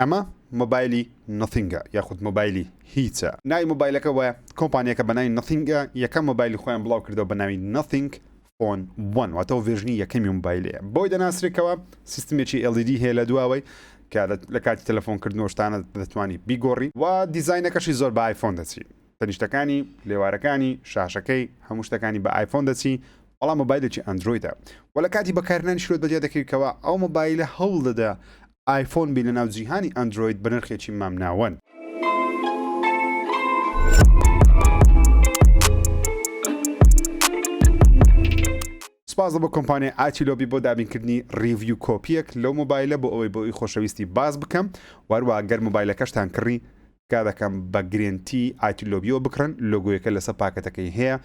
ئەمە مۆبایلی نۆثینگە یاخود مۆبایلی هیچە؟ ناوی مۆبایلەکە وایە، کۆمپانیاکە بە ناوی نۆثینگ یەکەم مۆبایلی خۆیان بڵاوکردەوە بە ناوی نۆثینگ فۆن وەن واتە ئەو ڤێرژنی یەکەمی مۆبایلەیە بەوەی دەناسرێت کەوا سیستمێکی LED هەیە لە دواوەی کە لە کاتی تەلەفۆن کردنەوە شتانە دەتوانی بیگۆڕی و دیزاینەکەشی زۆر بە ئایفۆن دەچی تەنیشتەکانی لێوارەکانی شاشەکەی هەموو شتەکانی بە ئایفۆن دەچی بەڵام مۆبایلێکی ئەندرویدە و لە کاتی بەکارنانی شرۆت بەدیا دەکەویتەوە ئەو مۆبایلە هەوڵ دەدا ئایفۆن بی لەناو جیهانی ئەندرۆید بەنرخێکی مامناوەن. سپاس بۆ کۆمپانیای ئاتیلۆبی بۆ دابینکردنی ڕیڤیو کۆپیەک لەو مۆبایلە بۆ ئەوەی بۆ ئەوی خۆشەویستی باس بکەم وەروە گەر مۆبایلەکەشتان کڕی تکا دەکەم بە گرێنتی ئاتیلۆبیەوە بکڕن لۆگۆیەکە لەسەر پاکەتەکەی هەیە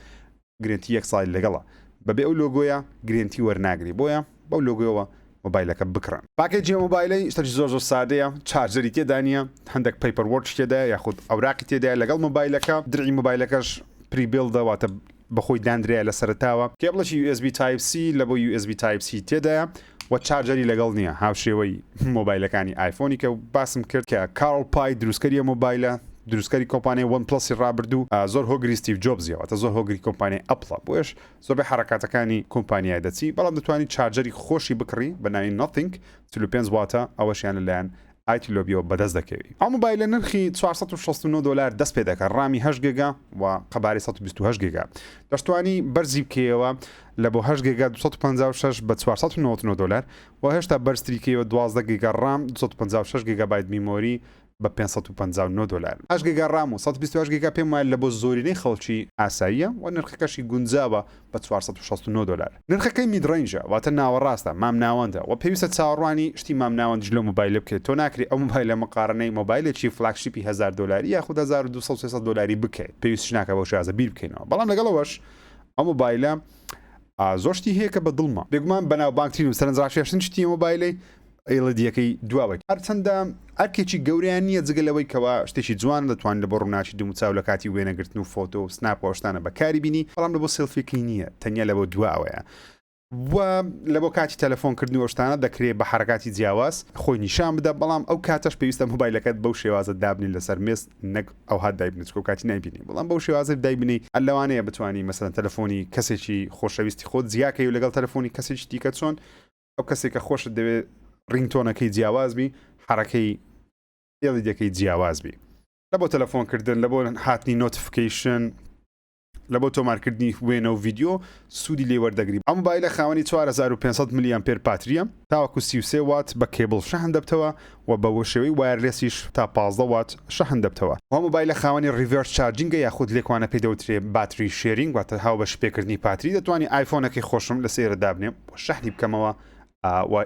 گرێنتی یەک ساڵی لەگەڵە بەبێ ئەو لۆگۆیە گرێنتی وەرناگری بۆیە بەو لۆگۆیەوە مۆبایلەکە بکڕن. پاکێجی ئەم مۆبایلەی شتەکی زۆر زۆر سادەیە چارجەری تێدا نیە هەندەک پەیپەر وۆرکی تێدایە یاخود ئەوراقی تێدایە لەگەڵ مۆبایلەکە دڕی مۆبایلەکەش پری بیڵدە واتە بەخۆی داندرایە لەسەرەتاوە کێبڵەکی یو ئێس بی تایپ سی لەبۆ یو ئێس بی تایپ سی تێدایە وە چارجەری لەگەڵ نیە هاوشێوەی مۆبایلەکانی ئایفۆنی کە باسم کرد کە کارل پای دروستکەری ئەو مۆبایلە دروستکەری کۆمپانیای وەن پڵەسی ڕابردوو زۆر هۆگری ستیڤ جۆبزیە واتە زۆر هۆگری کۆمپانیای ئەپڵە بۆیەش زۆربەی حەڕەکاتەکانی کۆمپانیای دەچی بەڵام دەتوانی چارجەری خۆشی بکڕی بە ناوی نۆتینگ چل و پێنج واتە ئەوەشیان لەلایەن ئایتی لۆبیۆ بەدەست دەکەوی. ئەو مۆبایلە نرخی چوار سەد و شەست و نۆ دۆلار دەست پێدەکا ڕامی هەشت گێگا و قەبارەی سەد و بیست و هەشت گێگا دەشتوانی بەرزی بکەیەوە لە بۆ هەشت گێگا دوو سەد و پەنجا و شەش بە چوار سەد و نەوەد و نۆ دۆلار و هێشتا بەرزتری کەیەوە دوازدە گێگا ڕام دوو سەد و پەنجا و شەش گێگابایت میمۆری بە پێنج سەد و پەنجا و نۆ دۆلار. هەشت گێگا ڕام و سەد و بیست و هەشت گێگا پێم وایە لە بۆ زۆرینەی خەڵکی ئاساییە و نرخەکەشی گونجاوە بە چوار سەد و شەست و نۆ دۆلار. نرخەکەی مید رەینجە واتە ناوەڕاستە، مامناوەندە، وە پێویستە چاوەڕوانی شتی مامناوەندیش لەو مۆبایلە بکرێت، تۆ ناکرێت ئەو مۆبایلە مقاڕنەی مۆبایلێکی فلاگشیپی هەزار دۆلاری یاخود هەزار و دوو سەد سێ سەد دۆلاری بکەیت، پێویستیش ناکات بەو شێوازە بیر بکەینەوە، بەڵام لەگەڵ ئەوەش ئەو مۆبایلە زۆر شتی هەیە کە بە دڵمە، بێگومان بەناوبانگترین و سەرنجڕاکێشترین شتی ئەو مۆبایلەی، ئیلدییەکەی دواوەی. هەرچەندە ئەرکێکی گەورەیان نییە جگە لەوەی کەوا شتێکی جوانە دەتوانن لەبۆ ڕووناکی دووموچاو لەکاتی وێنەگرتن و فۆتۆ و سناپ و ئەوشتانە بەکاری بینی بەڵام لەبۆ سێلفیەکەی نییە تەنیا لەبۆ دواوەیە و لەبۆ کاتی تەلەفۆن کردن و ئەوشتانە دەکرێ بە حەرەکاتی جیاواز خۆی نیشان بدە بەڵام ئەو کاتەش پێویستە مۆبایلەکەت بەو شێوازە دابنی لەسەر مێز نەک ئەوها دایبنی چکۆ کاتی نایبینی بەڵام بەو شێوازە دایبنی هەر لەوانەیە بتوانی مەسەلەن تەلەفۆنی کەسێکی خۆشەویستی خۆت جیاکەی و لەگەڵ تەلەفۆنی کەسێکی دیکە چۆن ئەو کەسێک کە خۆشت دەوێت ڕینگتۆنەکەی جیاواز بی حرەکەی ئێڵی دەکەی جیاواز بی لە بۆ تەلەفۆنکردن لە بۆ هاتنی نۆتفکەیشن لە بۆ تۆمارکردنی وێنە و ڤیددیو سوودی لێ وەردەگری ئەم بایلە خاوەنی 4500 میلیان پێر پاتریە تاوەکو 33 وات بە کێبڵ شەهن دەبتەوە وە بە وشێوەی وایەرلێسیش تا پازدە وات شەحن دەبتەوە ئەو مۆبایلە خاوەنی ڕیڤێرس چارجینگە یاخود لێکوانە پێی دەوترێ باتری شێرینگ واتە هاوبەش پێکردنی پاتری دەتوانی ئایفۆنەکەی خۆشم لە سێرە دابنێم و شەحنی بکەمەوە وە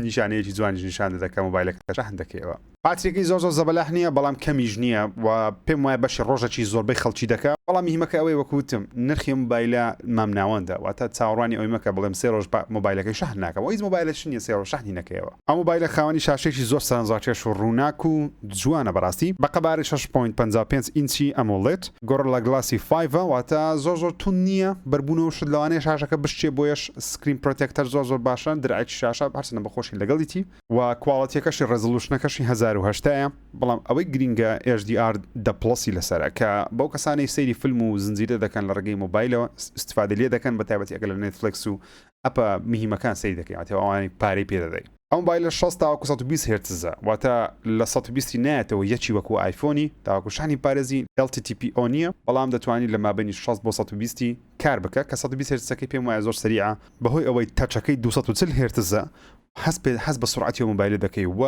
نیشانەیەکی جوانیش نیشان دەدە کە مۆبایلەکە شەحن دەکەیەوە پاتریەکەی زۆر زۆر زەبەلاح نییە بەڵام کەمیش نییە و پێم وایە بەشی ڕۆژەکی زۆربەی خەڵکی دەکا بەڵام مهمەکە ئەوەی وەک وتم نرخی مۆبایلە مامناوەندە واتە چاوەڕوانی ئەوەی مەکە بڵێم سێ ڕۆژ مۆبایلەکەی شەحن ناکەم و هیچ مۆبایلێکش نییە سێ ڕۆژ شەحنی نەکەیەوە ئەو مۆبایلە خاوەنی شاشەیەکی زۆر سەرەنجڕاکێش و ڕووناک و جوانە بەڕاستی، بە قەبارەی شەش پۆینت پەنجا و پێنج ئینچی ئەمۆڵێد، گۆڕلا گڵاسی فایڤە واتە زۆر زۆر توند نییە، بەربوون و شت لەوانەیە شاشەکە بشکێ بۆیەش سکرین پرۆتێکتەر زۆر زۆر باشە، درعێکی شاشە هەرچەندە بە خۆشی لەگەڵیتی و کواڵێتیەکەشی ڕێزڵوشنەکەشی هەزار و هەشتا یە، بەڵام ئەوەی گرینگە ئێچ دی ئار دە پڵەسی لەسەرە کە بەو کەسانەی سەیری فلم و زنجیرە دەکەن لە ڕێگەی مۆبایلەوە ئیستفادەی لێ دەکەن بە تایبەتی ئەگەر لە نێتفلێکس و ئەپە مهیمەکان سەیر دەکەی واتە ئەوانەی پارەی پێ دەدەی. ئەو مۆبایلە شەست تاوەکو سەد و بیست هێرتزە واتە لە سەد و بیست ی نایەتەوە یەکی وەکو ئایفۆنی تاوەکو شەحنی پارێزی LTTPO نیە بەڵام دەتوانی لە مابەینی شەست بۆ سەد و بیست ی کار بکە کە سەد و بیست هێرتزەکەی پێم وایە زۆر سەریعە بەهۆی ئەوەی تەچەکەی دوو سەد و چل هێرتزە هەست پێ هەست بە سورعەتی ئەو مۆبایلە دەکەی و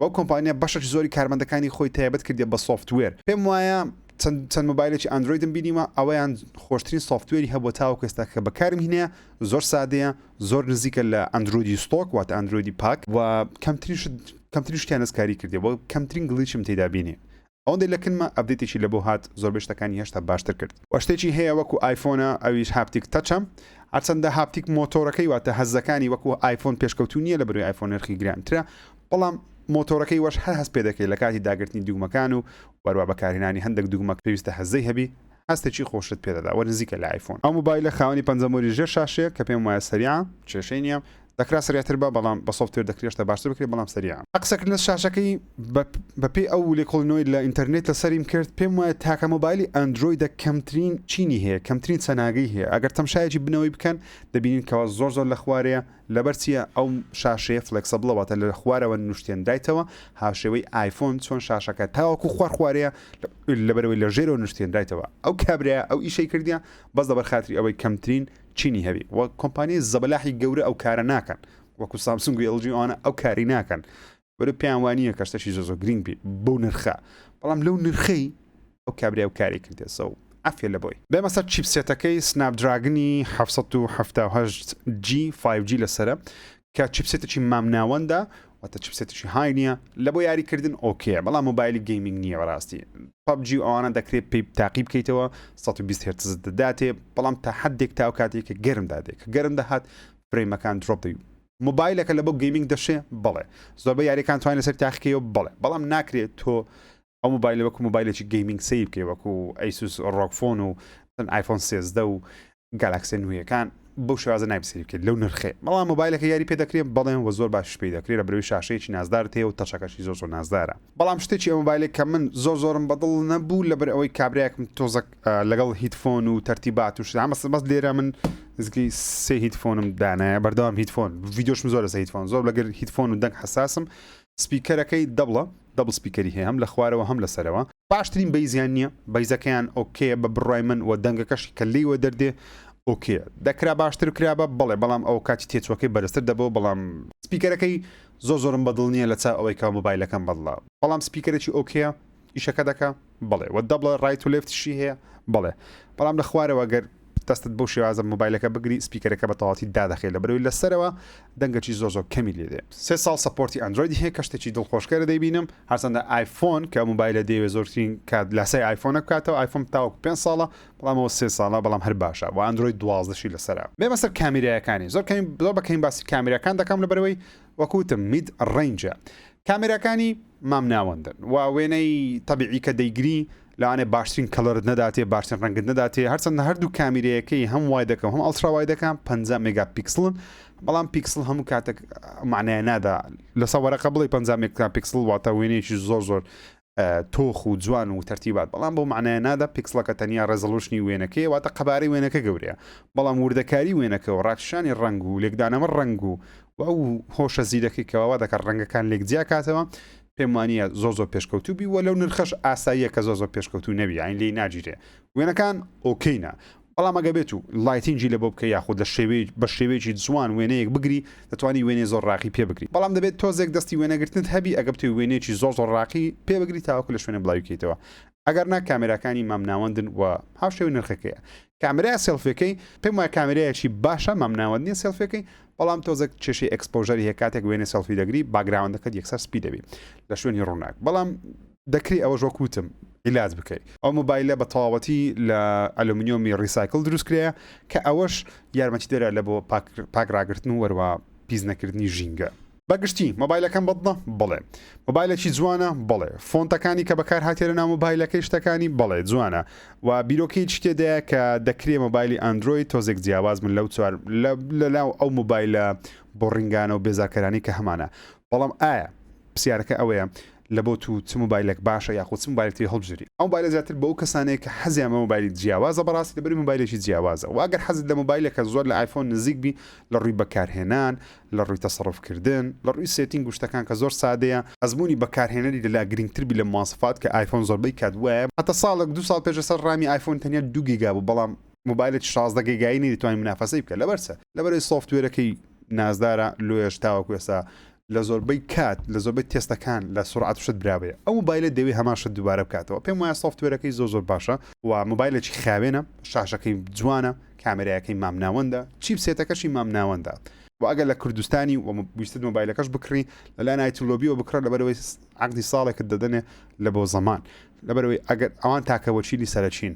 ئەو کۆمپانیا بەشێکی زۆری کارمەندەکانی خۆی تایبەت کردیە بە سۆفتوێر پێم وایە چەند چەند مۆبایلێکی ئەندرۆیدم بینیوە ئەویان خۆشترین سۆفتوێری هەبووە تاوەکو ئێستا کە بەکارم هینەیە زۆر سادەیە زۆر نزیکە لە ئەندرۆیدی ستۆک واتە ئەندرۆیدی پاک و کەمترین شت کەمترین شتیان دەستکاری کردی و کەمترین گڵیچم تێدا بینی ئەوەندەی لە کنمە ئەپدەیتێکی لەبۆ هات زۆربەی شتەکانی هێشتا باشتر کرد وە شتێکی هەیە وەکو ئایفۆنە ئەویش هاپتیک تەچە هەرچەندە هاپتیک مۆتۆرەکەی واتە هەزەکانی وەکو ئایفۆن پێشکەوتوو نییە لە بەروی ئایفۆن نرخی گرانترە بەڵام مۆتۆرەکەی وەش هەر هەست پێدەکەی لە کاتی داگرتنی دوگمەکان و وەروا بەکارهێنانی هەندێک دوگمە پێویستە هەزەی هەبی هەستێکی خۆشت پێ دەدا و نزیکە لە ئایفۆن. ئەو مۆبایلە خاوەنی پەنجە مۆری ژێر شاشەیە کە پێم وایە سەریعە، کێشەی نییە، دەکرا سەریعتر با بەڵام بە سۆفتوێر دەکری هێشتا باشتر بکری بەڵام سەریعە. لە قسەکردنە شاشەکەی بە پێی ئەو لێکۆڵینەوەی لە ئینتەرنێت لە سەریم کرد پێم وایە تاکە مۆبایلی ئەندرۆیدە کەمترین چینی هەیە کەمترین چەناگەی هەیە ئەگەر تەمشایەکی بنەوەی بکەن دەبینین کەوا زۆر زۆر لە خوارەیە، لەبەر چیە ئەو شاشەیە فلێکسەبڵە واتە لە خوارەوە نوشتێنرایتەوە هاوشێوەی ئایفۆن چۆن شاشەکە تاوەکو خوار خوارەیە لەبەرەوەی لە ژێرەوە نوشتێنرایتەوە ئەو کابرا ئەو ئیشەی کردیە بەس دەبەر خاتری ئەوەی کەمترین چینی هەبی و کۆمپانیای زەبەلاحی گەورە ئەو کارە ناکەن وەکو سامسونگ و ئێڵجی ئەوانە ئەو کاری ناکەن وەلێ پێیان وانییە کەشتەشی زۆ زۆ گرنگ بی بەو نرخە بەڵام لەو نرخەی ئەو کابرای و کاری کردێ سە و عفێ لە بۆی بێمە سەر چیپسێتەکەی سناپ دراگنی جی 5G لەسرە کە چیپسێتەی مام ناوەندە واتە چپسێتشی های نییە لە بۆ یاریکردن ئۆکێ بەڵام مۆبایلی گەیمنگ نییە بەڕاستی پبجی و ئەوانە دەکرێت پێی تاقی بکەیتەوە 120 هرتز دەداتێ بەڵام تا حدێک تاو کاتێکە گەرم دادێک گەرم دەهات فرەیمەکان درۆپ دەی موبایلەکە لە بۆ گەیمینگ دەشێ بەڵێ زۆربە یاریەکان توانین لەسەر تاخکەوە بڵێ بەڵام ناکرێت تۆ ئەو موبایلە وەکو موبایلێکی گەیمینگ سەیر بکەی وەکو ئەیسوس ڕۆکفۆن و ئایفۆن سێزدە و گالاکسێ نوێیەکان بەو شێوازە نابسری بکرێت لەو نرخێ بەڵام مۆبایلەکە یاری پێ دەکرێت بەڵێن و زۆر باش پێی دەکرێت لە بروی شاشەیەکی نازدار تێ و تەچەکەشی زۆر زۆر نازدارە بەڵام شتێکی ئەو مۆبایلێک کە من زۆر زۆرم بەدڵ نەبوو لەبەر ئەوەی کابراەکم تۆزەک لەگەڵ هیتفۆن و تەرتیبات و شدامە بەس لێرە من زگی سێ هیتفۆنم دانایە بەردەوام هیتفۆن ڤیددیۆشم زۆر لەسە هیتفۆن زۆر لەگەر هیتفۆن و دەنگ حساسم سپیکەرەکەی دەبڵە دەبڵ سپیکەری هەیە هەم لە خوارەوە هەم لەسەرەوە باشترین بەیزیان نییە بەیزەکەیان ئۆکێ بە بڕای من و دەنگەکەشی کە لێوە دەردێ ئۆکێ دەکرا باشتر کرا بە بەڵێ بەڵام ئەو کاتی تێچوەکەی بەرزتر دەبەوە بەڵام سپیکەرەکەی زۆ زۆرم بەدڵ نییە لە چا ئەوەی کا مۆبایلەکەم بەدڵە بەڵام سپیکەرەی ئۆکەیە ئیشەکە دەکا؟ بەڵێ. وە دەبڵە ڕایت و لێفت شی هەیە؟ بەڵێ. بەڵام لە خوارەوە گەر دەستت بەو شێوازە مۆبایلەکە بگری سپیکەرەکە بە تەواوەتی دادەخەی لەبەرەوەی لە سەرەوە دەنگەکی زۆر زۆر کەمی لێ دێ. سێ ساڵ سەپۆرتی ئەندرۆیدی هەیە کە شتێکی دڵخۆشکەرە دەیبینم هەرچەندە ئایفۆن کە مۆبایلە دەیەوێ زۆرترین کات لاسای ئایفۆنە بکاتەوە ئایفۆن تاوەکو پێنج ساڵە بەڵام ئەوە سێ ساڵە بەڵام هەر باشە وە ئەندرۆید دوازدە شی لەسەرە بێمە سەر کامیرایەکانی زۆر کەمین زۆر بە کەمین باسی کامیراکان دەکەم لەبەرەوەی وەک وتم مید ڕەینجە کامێراکانی مامناوەندن و وێنەی تەبیعی کە دەیگری لەوانەیە باشترین کەڵەرت نەداتێ باشترین ڕەنگت نەداتێ هەرچەندە هەردوو کامیرەیەکەی هەم وایدەکە و هەم ئەڵترا وایدەکە پەنجا مێگا پیکسڵن بەڵام پیکسڵ هەموو کاتێک معنای نادا لەسە وەرەقە بڵێ پەنجا مێگا پیکسڵ واتە وێنەیەکی زۆر زۆر تۆخ و جوان و تەرتیبات بەڵام بەو مەعنایە نادا پیکسڵەکە تەنیا ڕێزەڵوشنی وێنەکەیە واتە قەبارەی وێنەکە گەورەیە بەڵام وردەکاری وێنەکە و ڕاکشانی ڕەنگ و لێکدانەوە ڕەنگ و و ئەو هۆشە زیرەکی کەواوا دەکات ڕەنگەکان لێک جیاکاتەوە پێم وانە زۆ زۆ پێشکەوتوبی وە لەو نرخەش ئاساییە کە زۆ زۆ پێشکەوتو نەبی ئاین لی ناگیرێ وێنەکان ئۆکەینە بەڵام ئەگەر بێت و لایتینگی لەبۆ بکەی یاخود لە شێوەی بە شێوەیەکی جوان وێنەیەک بگری دەتوانی وێنەی زۆر ڕاقی پێ بگری بەڵام دەبێت تۆزێک دەستی وێنەگرتنت هەبی ئەگەر بتەوی وێنەیەکی زۆر زۆر ڕاقی پێ بگری تاوەکو لە شوێنێ بڵاوی کەیتەوە ئەگەر نا کامێراکانی مامناوەندن و هاوشێوەی نرخەکەیە کامێرا سێڵفیەکەی پێم وایە کامێرایەکی باشە مامناوەند نیە سێڵفیەکەی بەڵام تۆزێک کێشەی ئەکسپۆژەری هەیە کاتێک وێنەی سێڵفی دەگری باگراوەندەکەت یەکسەر سپی دەبی لە شوێنی ڕووناک بەڵام دەکرێ ئەوەش وەک وتم عیلاج بکەی. ئەو مۆبایلە بە تەواوەتی لە ئەلۆمنیۆمی ڕیسایکل دروست کرایە کە ئەوەش یارمەتیدەرە لە بۆ پاک ڕاگرتن و هەروەها پیس نەکردنی ژینگە. بە گشتی مۆبایلەکەم بەدڵە؟ بەڵێ. مۆبایلێکی جوانە؟ بەڵێ. فۆنتەکانی کە بەکارهاتیە لەناو مۆبایلەکەی شتەکانی؟ بەڵێ جوانە و بیرۆکەیەکی تێدایە کە دەکرێ مۆبایلی ئەندرۆید تۆزێک جیاواز بن لەو چوار لەناو ئەو مۆبایلە بۆڕینگانە و بێزارکەرانەی کە هەمانە بەڵام ئایا پرسیارەکە ئەوەیە لە بۆ تو چ موبایلەک باشە یاخو چ موبایلەک تری هەڵبژێری ئەو موبایلە زیاتر بۆ ئەو کەسانەیە کە حەزیان بە موبایلی جیاوازە بەڕاستی دەبەری موبایلێکی جیاوازە وە ئەگەر حەزت لە موبایلێکە زۆر لە ئایفۆن نزیک بی لە ڕوی بەکارهێنان لە ڕوی تەسەڕوف کردن لە ڕوی سێتینگ و شتەکان کە زۆر سادەیە ئەزمونی بەکارهێنەری لە لا گرینگتر بی لە مواسەفات کە ئایفۆن زۆربەی کات وایە هەتا ساڵێک دوو ساڵ پێش لەسەر ڕامی ئایفۆن تەنیا دوو گیگا بوو بەڵام موبایلێکی شازدە گیگایی نەیدەتوانی منافەسەی بکە لەبەر چ لەبەر ئەوی سۆفتوێرەکەی نازدارە لۆیەش تاوەکو ئێستا لە زۆربەی کات لە زۆربەی تێستەکان لە سرعت و شت برابێ ئەو مۆبایلە دەوێ هەمان شت دووبارە بکاتەوە پێم وایە سۆفتوێرەکەی زۆر زۆر باشە و مۆبایلێکی خاوێنە شاشەکەی جوانە کامێرایەکەی مامناوەندە چیپ سێتەکەشی مامناوەندە و ئەگەر لە کوردستانی و ویستت مۆبایلەکەش بکڕی لەلایەن ئایتولۆبیەوە بکڕە لەبەرەوەی عقدی ساڵێکت دەدەنێ لە بۆ زەمان لەبەرەوەی ئەگەر ئەوان تاکەوەچیلی سەرەکین